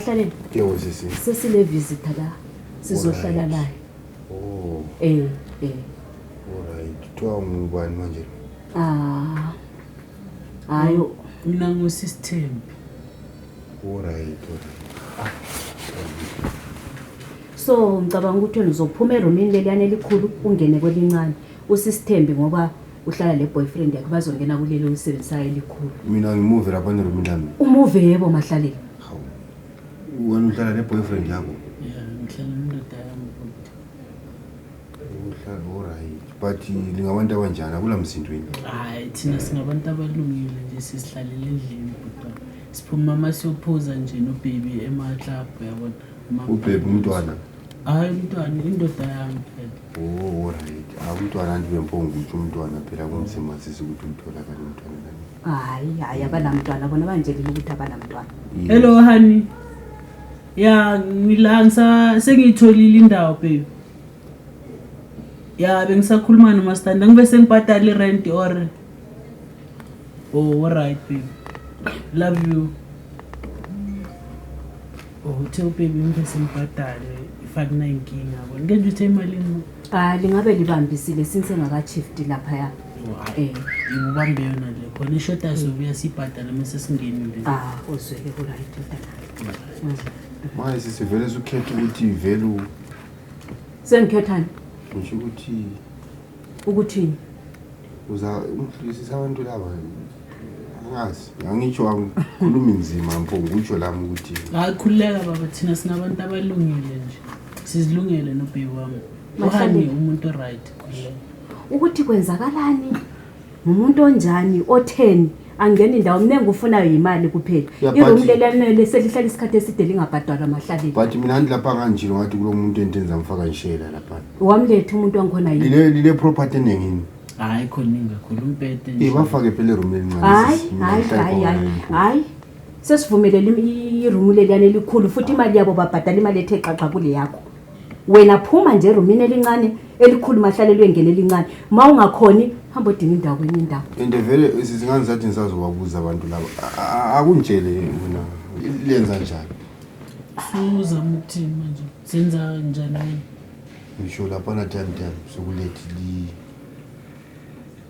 Hlaleni. Yebo sisi. Sesine visitor la. Sizohlala naye. Oh. Eh, eh. Alright. Kuthiwa ngubani manje? Ah. Hayi, mina ngusisithembi. Alright, alright. So ngicabanga ukuthi wena uzophuma erumini leliyana elikhulu ungene kwelincane. Usisithembi ngoba uhlala le boyfriend yakhe bazongena kuleli olisebenzisayo elikhulu. Mina ngimuve lapha nerumini lami. Umuve yebo mahlaleni. Hawu. Wena uhlala ne boyfriend yakho. Yeah, ngihlala nendoda yami futhi. Uhlala alright. But lingabantu abanjani akula msindweni. Hayi thina singabantu abalungile nje sisihlalele endlini kodwa. Siphuma uma siyophuza nje no baby ema club yabona. Uma- Ubhebhe umntwana. Hayi umntwana indoda yami phela. Oh, alright. Awumntwana anti bemponga ukuthi umntwana phela kunzima sisi ukuthi umtholakale umntwana. hayi hayi abanamntwana bona banjelile ukuthi abanamntwana hello honey ya ngila ngisa sengiyitholile indawo babe ya bengisakhuluma nomastanda ngibe sengibhadala irent or oh alright babe love you oh uthe ubabe ngibe sengibhadale ifakunayinkinga bona ngenje uthe imalini ah lingabe libambisile since engakashifti laphaya Eh. ngikubambe yona le khona ishoda sobuya sibhadala uma sesingenile Ah, uzweke kuright mntanami. manje sisivele sukhetha ukuthi vele u- Sengikhethani ngisho ukuthi ukuthini? uza umhlulisisa abantu laba angazi angitsho angikhulumi nzima mpo ngikutsho lami ukuthi hayi khululeka baba thina sinabantu abalungile nje sizilungele nobhebi wami Mahlale. uhani umuntu right khululeka ukuthi kwenzakalani ngumuntu onjani otheni angeni ndawo mina engikufunayo yimali kuphela Yeah, but- iroom lelanele selihlala isikhathi eside lingabhadalwa mahlaleni but mina andilapha kanje ngathi kulo muntu entenza ngifaka ishela lapha wamletha umuntu wangikhona yini lile lile property enengini hayi khona ingakhulu umpete nje. ibafake phela eroom elincane hayi sis. Mina hayi ngihlala hayi khona hayi ngiphume. hayi sesivumelele irumu leliyana elikhulu futhi imali yabo babhadala imali ethe xaxa kule yakho wena phuma nje erumini elincane elikhulu mahlalelwe ngene elincane ma ungakhoni hamba odinga indawo kwenye indawo ende vele zingane zathi ngisazobabuza abantu laba A- a- akungitshele wena lenza njani suzama ukuthini manje senza njani wena ngisho laphana time time sokulethi li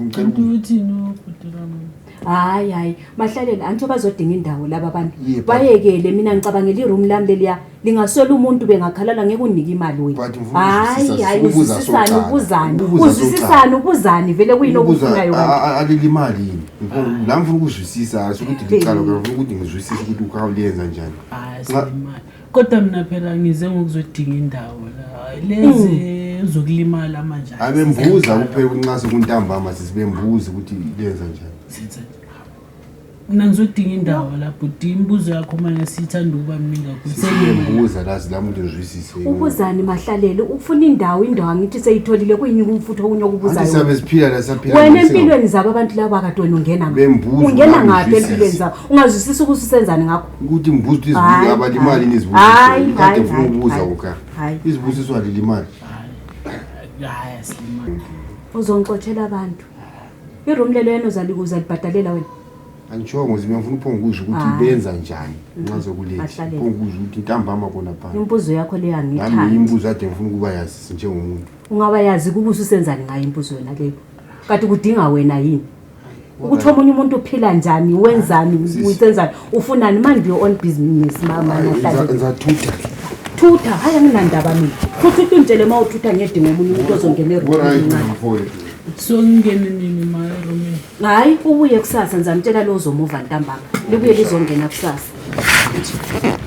Ngicela uku- uthini ubhutilami hayi hayi bahlaleni anti bazodinga indawo laba bantu Yebo. bayekele mina ngicabangela iroom lami leliya lingaswela umuntu bengakhalala ngeke unike imali wena But ngifuna hayi ukuzwisisa- hayi ukubuza uzwisisani soqala. ubuzani Ukubuza uzwisisani ubuzani vele kuyini Ukubuza, okufunayo a- kanti a- alilimali yini Ngifuna- la ngifuna ukuzwisisa asho ukuthi licala Hey. ngifuna ukuthi ngizwisise ukuthi ukhawulenza njani hayi Nxa- selimali kodwa mina phela ngize ngokuzodinga indawo la lezi hmm. uzokulimala manje abembuza kuphela kunxase kuntambama sisibembuza ukuthi lenza njani mina ngizodinga indawo la bhuti imibuzo yakho mane siyithanda ukuba mningi kakhulubuza lazi lami into ngizwisise ubuzani mahlalele ufuna indawo indawo angithi seyitholile kuyini kumfutho okunye okubuzayosabe siphila la saphila wena empilweni zabo abantu laba akadoni ungena ungena ngaphi empilweni zabo ungazwisisa ukuthi usenzani ngakho ukuthi ngibuza ukuthi Hayi, izibuzo abali imali hayi. nizibuzo Hayi, kade hayi, ngifuna hayi, ukubuza hayi. kuka Hayi. izibusiso alile imali hayi asilima uzongixotshela abantu iroom lelo yena uzali- uzalibhadalela wena angitshongo zima ngifuna uphongukusho ukuthi Hayi. benza njani nxa zokuletha Bahlalela. uphongukusho ukuthi ntambama khona phana imbuzo yakho leyo nami angiyithandi imibuzo ade ngifuna ukuba yazi njengomuntu ungaba yazi kubusa usenzani ngayo imbuzo yona leyo kanti kudinga wena yini ukuthi omunye umuntu uphila njani wenzani usenzani ufunani mind your own business mama ngizathutha thutha hayi anginandaba mina futhi uthi ungitshele uma uthutha ngiyedinga omunye umuntu ozongena eroncane so ngingene nini maromin hayi ubuye kusasa ngizamtshela lo uzomuva ntambama libuye lizongena kusasa